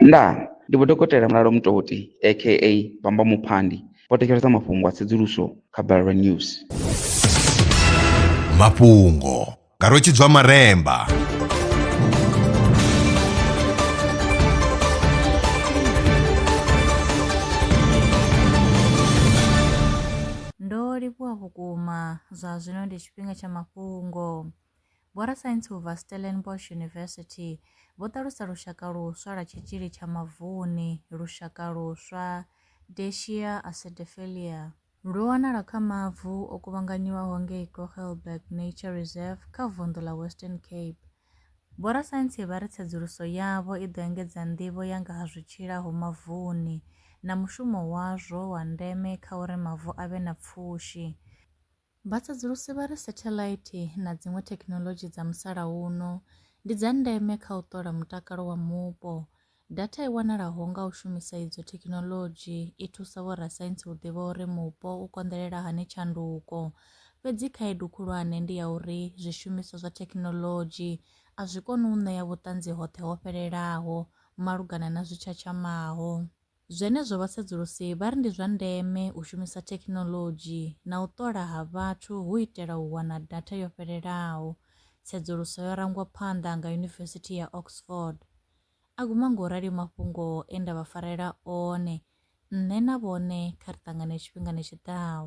Ndaa! Ndi Vho Dokotela Mulalo Mutoti aka Bamba Muphandi vho thetshelesa mafhungo a tsedzuluso kha Balelwa News. Mafhungo nga Rwe Tshidzwa Maremba. Ndo livhuwa vhukuma. Zwa zwino ndi tshifhinga tsha mafhungo. Vhorasaintsi vha Stellenbosch University vho ṱalusa lushaka luswa lwa tshitzhili tsha mavuni, lushaka luswa, Deschia acidiphillia. Lu wanala kha mavu o kuvhanganyiwaho ngei Kogelberg Nature Reserve kha vunḓu ḽa Western Cape. Vhorasaintsi vha ri tsedzuluso yavho i ḓo engedza nḓivho ya nga ha zwi tshilaho mavuni na mushumo wazwo wa ndeme kha uri mavu a vhe na pfushi. Vhatsedzulusi vha ri setheḽaithi na dziṅwe thekhinoḽodzhi dza musalauno ndi dza ndeme kha u ṱola mutakalo wa mupo. Datha i wanalaho nga u shumisa idzo thekhinoḽodzhi i thusa vhorasaintsi u ḓivha uri mupo u konḓelela hani tshanduko. Fhedzi khaedu khulwane ndi ya uri zwishumiswa zwa thekhinoḽodzhi a zwi koni u ṋea vhuṱanzi hoṱhe ho fhelelaho malugana na zwi tshatshamaho. Zwenezwo vhasedzulusi vha ri ndi zwa ndeme u shumisa thekhinoḽodzhi na u ṱola ha vhathu hu itela u wana datha yo fhelelaho. Tsedzuluso yo rangwa phanḓa nga Yunivesithi ya Oxford. A guma nga u rali mafhungo e nda vha farela one, nṋe na vhone kha ri ṱangane tshifhingani tshi ḓaho.